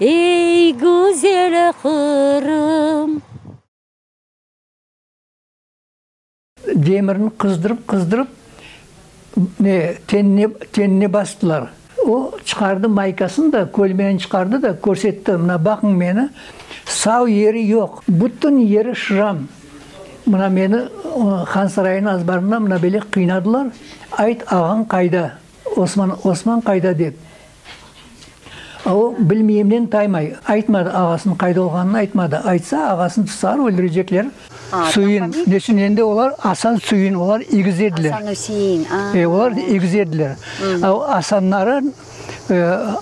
Ey, güzel Qırım! Demirni qızdırıp-qızdırıp, ne, tenine, tenine bastılar. O, çıqardı maykasını da, kölmeni çıqardı da, körsetti, mına, baqıñ meni, sav yeri yoq, bütün yeri şram, mına, meni Hansarayıñ azbarında mına böyle qıynadılar, ayt, ağañ qayda? Osman, Osman qayda? dep, a o, bilmeyimnen taymay, aytmadı, ağasınıñ qayda olğanını aytmadı, aytsa, ağasını tutsalar, öldürecekler. Süin, neçün endi olar, Asan, Süin, olar egiz ediler. Asan, Üsein, a. E, olar egiz ediler. A o, Asanları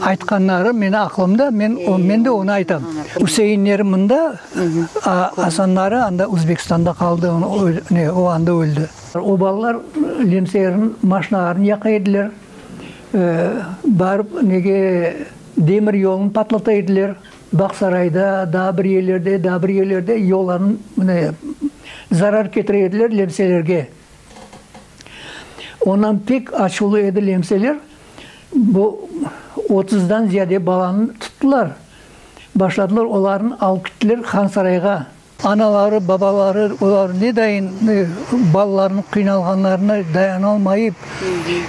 aytqanları meni aqlımda, men, men de onı aytam. Üseinleri mında, a Asanları anda, Uzbekistanda qaldı, ne, o anda öldi. O balalar Lemseyerniñ maşnağarnı yaqa ediler, barıp nege demir yolunı patlata ediler, Bağsarayda, daa bir yerlerde, daa bir yerlerde yollarnı mine zarar ketire ediler Lemseylerge. Ondan pek açuvlı edi Lemseyler, bu otuzdan ziyade balanı tuttılar, başladılar olarnı alıp gittiler Hansarayğa, Anaları, babaları olar nedayin balalarnıñ qıynalğanlarına dayanalmayıp,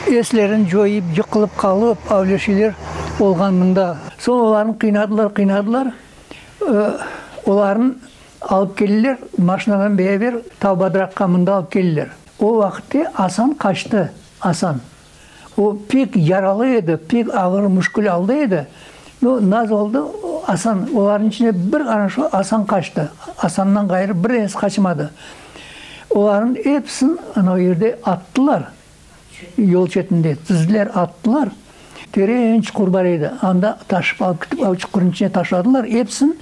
eslerini coyıp, yıqılıp qalıp, avleşeler olğan mında. Soñ olarnı qıynadılar, qıynadılar, olarnı alıp keldiler, maşinadan beraber Tavbadraqqa mında alıp keldiler. O vaqıtte Asan qaçtı, Asan. O pek yaralı edi, pek ağır müşkül aldı edi. No, naz oldı, Asan, olarnıñ içinde bir ana şu Asan qaçtı. Asandan ğayrı bir denesi qaçmadı. Olarnıñ episini ana o yerde attılar, yol çetinde tizdiler, attılar. Teren çuqur bar edi, anda taşıp alıp ketip, o çuqurnıñ içine taşladılar episini,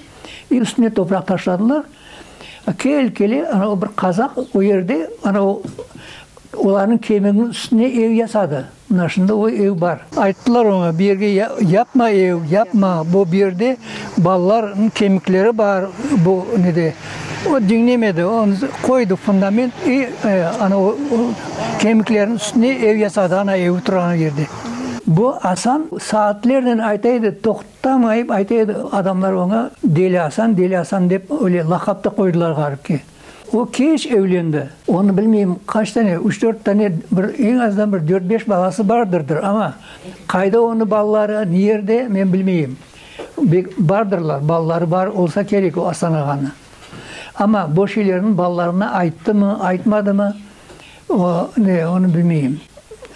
üstüne topraq taşladılar. Kel, kele, ana o bir qazaq o yerde, ana o olarnıñ kemiginiñ üstüne ev yasadı. Mına şimdi o ev bar. Ayttılar oña, bu yerge yapma ev, yapma, bu bu yerde balalarnıñ kemikleri bar, bu ne de. O diñlemedi, o qoydı fundament i ana o kemiklerniñ üstüne ev yasadı, ana evi turğan yerde. Bu Asan saatlernen ayta edi, Tam ayıp ayta edi, adamlar oña Deli Asan, Deli Asan dep öyle laqap da qoydılar ğarip ki. O keç evlendi. Onı bilmeyim qaç tane, üç-dört tane, bir eñ azdan bir dört-beş balası bardırdır, ama qayda onı balaları, niyerde, men bilmeyim. Bek bardırlar, balaları bar olsa kerek o Asan ağanı. Ama boş ilerin balalarına ayttımı, aytmadımı? O ne, onı bilmeyim.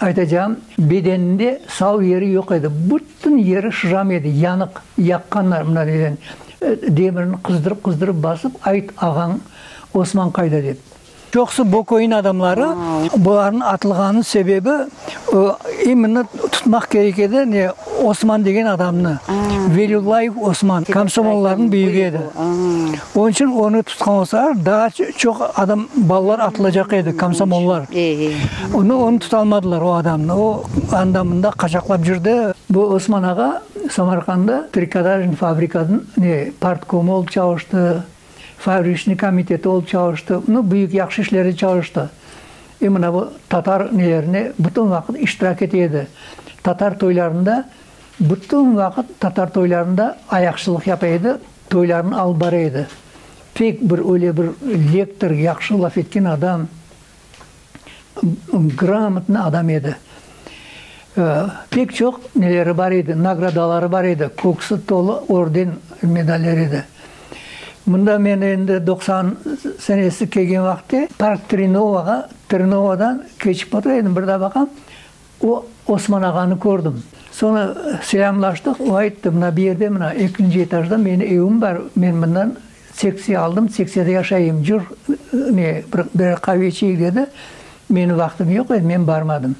Aytacağım, bedeninde sav yeri yoq edi, bütün yeri şıram edi, yanıq, yaqqanlar, mına neden, demirini qızdırıp-qızdırıp basıp, ayt, ağañ Osman qayda, dep. Çoqusı bu köyniñ adamları, bularnıñ atılğanınıñ sebebi. İmini tutmaq kerek edi, ne Osman degen adamnı, Veliullayev Osman, komsomollarnıñ büyügi edi. Onıñ içün onı tutqan olsalar, daa çoq adam, balalar atılacaq edi, komsomollar. Amma onı tutalmadılar, o adamnı, o anda, mında qaçaqlap yürdi. Bu Osman ağa Samarqanda trikotaj fabrikasınıñ ne partkomu olıp çalıştı, Favrişni komiteti olıp çalıştı, nu, büyük yahşı işlerde çalıştı. E, mına bu tatar nelerinde bütün vaqıt iştirak ete edi. Tatar toylarında, bütün vaqıt tatar toylarında ayaqçılıq yapa edi, toylarını alıp bara edi. Pek bir öyle bir lektor, yahşı laf etken adam. Gramotnıy adam edi. Pek çoq neleri bar edi, nagradaları bar edi, köksü tolu orden, medaller edi. Mında men endi doqsan senesi kelgen vaqıtte Park Trinovağa, Trinovadan keçip otur edim, bir da baqam, O, Osman ağanı kördim. Soñra selâmlaştıq. O ayttı, mına bir yerde, mına ekinci etajda meni evim bar, men mından seksiya aldım, seksiyada yaşayım, cür, ne, bir, birer qave içeyik, dedi. Menim vaqtım yoq edi, men barmadım.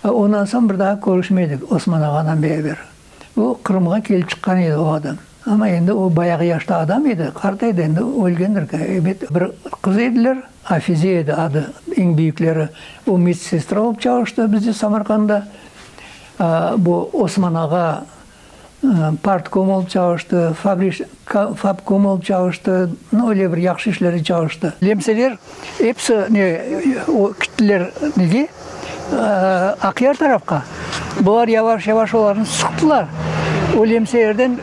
Ondan soñ bir daa körüşmedik Osman ağadan beraber. O, Qırımğa kelip çıqqan edi o adam. Amma endi o bayağı yaşta adam edi, qart edi, endi ölgendir, ebet. Bir qız ediler, Afize edi adı, eñ büyükleri. O medsestra olıp çalıştı bizde Samarqanda. Bu Osman ağa partkom olıp çalıştı, fabri. Fab Komol çalıştı, no öyle bir yahşı işlerde çalıştı. Lemseler episi ne, o kittiler nege, Aqyar tarafqa. Bular yavaş-yavaş olarnı sıqtılar. O lemselerden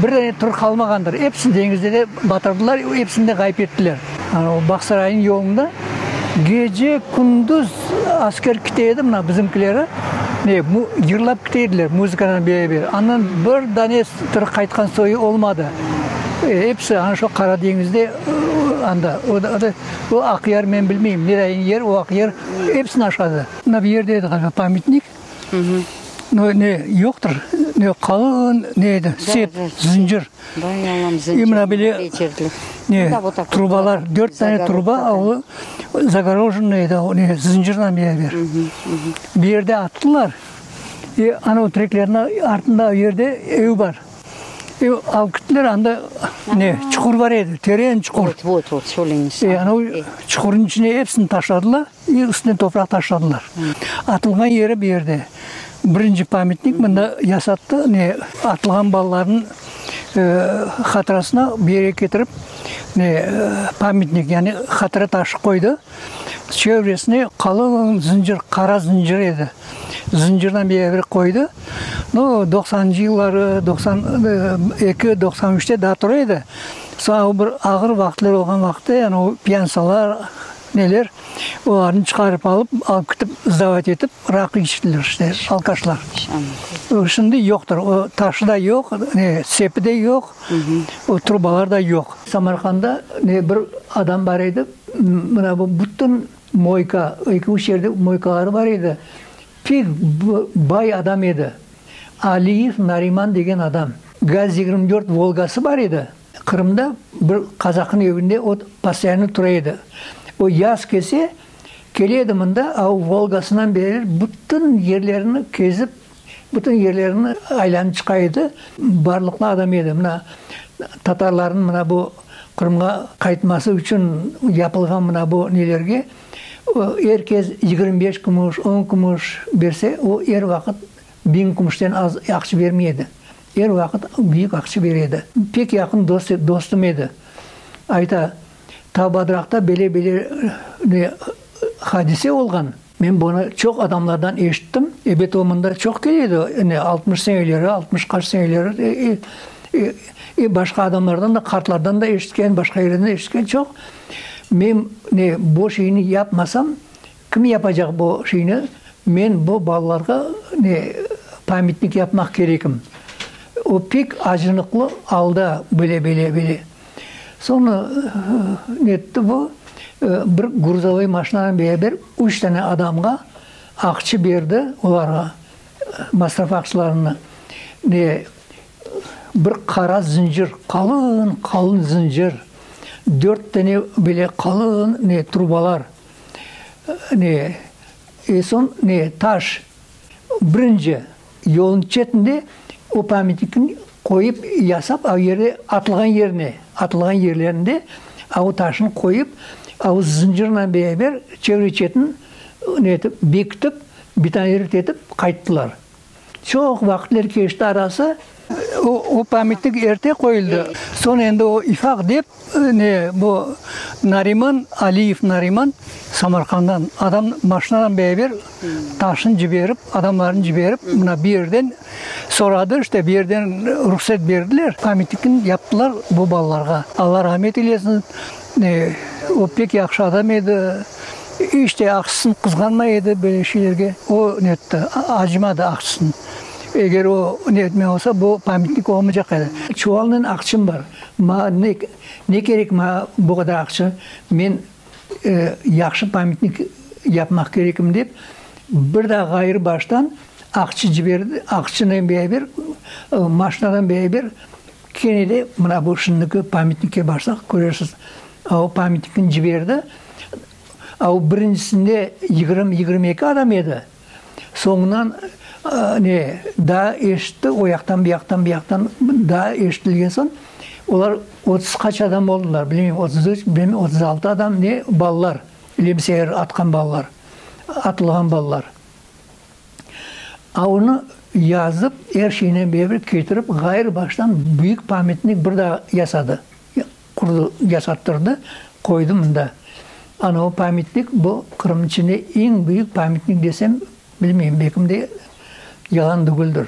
bir dane tür qalmağandır. Epsini deñizde de batırdılar, epsini de ğayıp ettiler. O Bağsarayniñ yolunda gece-kündüz asker küte edi, mına bizimkileri yırlap küte ediler muzıkanen beraber. Andan bir dane tiri qaytqan soyu olmadı. Episi ana şu Qara deñizde anda, o da, o Aqyar men bilmeyim, nere yer o Aqyar, epsini aşadı. Mına bir yerde edi ğaliba pametnik, ne yoqtır, ne qalın, ne edi, sep, zıncır. İmra bile ne, trubalar, dört tane truba, o zagorojennoye edi, o ne, zıncırla beraber. Bir yerde attılar, e, anav treklerniñ artında o yerde ev bar. E, alıp gittiler, anda ne, çuqur bar edi, teren çuqur. E, anav çuqurnıñ içine episini taşladılar. Ve üstüne topraq taşladılar. Atılğan yeri bu yerde. Birinci pamyatnik mında yasattı, ne, atılğan balalarnıñ hatırasına bu yere ketirip, ne, pamyatnik, yani hatıra taşı qoydı. Çevresine qalın zıncır, qara zıncır edi. Zıncırdan bir yerlere qoydı. No, doqsancı yılları, doqsan eki, doqsan üçte daa tura edi. Soñ o bir ağır vaqıtlar olğan vaqıtta, yani o piyansalar, Neler, olarnı çıqarıp alıp, alıp ketip, zdavat etip, raqı içtiler işte, alkaşlar. O, şimdi yoqtır, o taşı da yoq, ne, sepi de yoq, o trubalar da yoq. Samarqanda, ne, bir adam bar edi, mına bu bütün moyka, eki, üç yerde moykaları bar edi, pek bay adam edi, Aliyev Nariman degen adam. Gaz yigirmi dört Volgası bar edi. Qırımda bir kazaknıñ evinde o postoyanno tura edi. O yaz kelse, kele edi mında, a o Volgasınan beri bütün yerlerni kezip, bütün yerlerni aylanıp çıqa edi. Barlıqlı adam edi. Mına, tatarlarnıñ mına bu Qırımğa qaytması içün yapılğan mına bu nelerge o er kez yigirmi beş kümüş, on kümüş berse, o er vaqıt biñ kümüşten az aqç bermey edi. Er vaqıt büyük aqçı beredi. Pek yaqın dostum edi. Ayta, Tavbadraqta bele-bele ne hadise olğan. Men bunı çoq adamlardan eşittim. Ebet o mında çoq keledi, ne altmış seneleri, altmış qaç seneleri, e, başqa adamlardan da, qartlardan da eşitken, başqa yerden de eşitken çoq. Men, ne, boş işni yapmasam, Kim yapacaq bu şeyni? Men bu balalarğa ne pamyatnik yapmaq kerekim? O pek acınıqlı alda böyle, böyle, böyle. Soñra netti bu, bir gruzovoy maşinanen beraber üç tane adamğa aqçı berdi olarğa, masraf aqçılarını. Ne bir qara zıncır, qalın, qalın zıncır, dört tane böyle qalın ne trubalar. Ne, e, soñ ne, taş, birinci yolun çetinde o pamyatnikni qoyıp, yasap, a yerde, atılğan yerine, atılğan yerlerinde a o taşnı qoyıp, a o zıncırnen beraber çevre-çetin ne etip, bekitip, betonerit etip qayttılar. Çoq vaqıtlar keçti arası. O pamitnik erte qoyuldı. Soñ endi o ifaq dep, ne, bu Nariman, Aliyev Nariman, Samarqanddan adam maşinadan beraber taşnı ciberip, adamlarnı ciberip, mına bir yerden soradı, işte, bir yerden ruhset berdiler, pamitnikni yaptılar bu balalarğa. Alla rahmet eylesin. O pek yahşı adam edi, iç de aqsısını qızğanmay edi, böyle şeylerge o netti, acımadı aqsısını. Eger o netmey olsa, bu pametnik olmaycaq edi. Çuvalnen aqçım bar, maña ne kerek, maña bu qadar aqça, men yahşı pametnik yapmaq kerekim, dep, bir daa ğayrı baştan aqçı ciberdi, aqçınen beraber, maşinadan beraber Kene de mına bu şimdiki pametnikke barsaq körersiz, a o pametnikniñ ciberide, a o birincisinde yigirmi, yigirmi eki adam edi, soñundan ne, daa eşitti, o yaqtan, bu yaqtan, bu yaqtan daa eşitilgen soñ, olar otuz qaç adam oldılar, bilmeyim, otuz üç, bilmeyim, otuz altı adam, ne, balalar, lemseyer atqan balalar, atılğan balalar. Onı yazıp, er şeynen bevrek ketirip, ğayrı baştan büyük pametnik bir daa yasadı, qurdı, yasattırdı, qoydı mında. Ana o pametnik, bu Qırımnıñ içinde eñ büyük pametnik desem, bilmeyim, bekimde yalan degildir.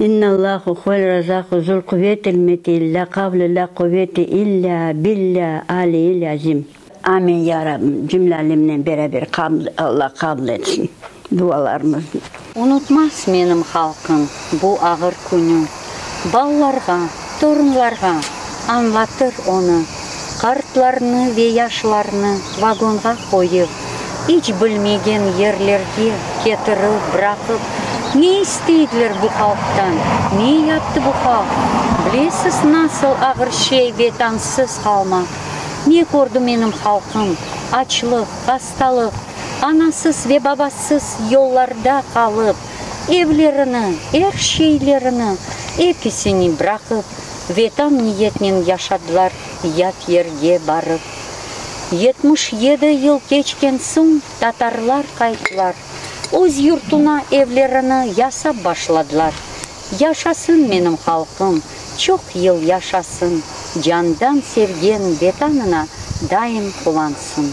İnnallâhu huvel razâku zul quvetil metil la kavle la quvete illâ billâ aliyil azim. Amin ya Rabbim cümle alemnen beraber Allah qabul etsin dualarımıznı. Unutmaz menim halqım bu ağır künü. Ballarğa. Torunlarğa añlatır onı. Qartlarnı ve yaşlarnı vagonğa qoyıp, iç bilmegen yerlerge ketirip, bıraqıp, ne isteydiler bu halqtan, ne yaptı bu halq? Bilesiz, nasıl ağır şey vetansız qalmaq? Ne kördi menim halqım? Açlıq, hastalıq, anasız ve babasız yollarda qalıp, Evlerini, er şeylerini, episini bıraqıp, vetan niyetnen yaşadılar yat yerge barıp. Yetmiş yedi yıl keçken soñ tatarlar qayttılar, öz yurtuna evlerini yasap başladılar. Yaşasın menim halqım, çoq yıl yaşasın, Candan sevgen Vetanına daim qulansın.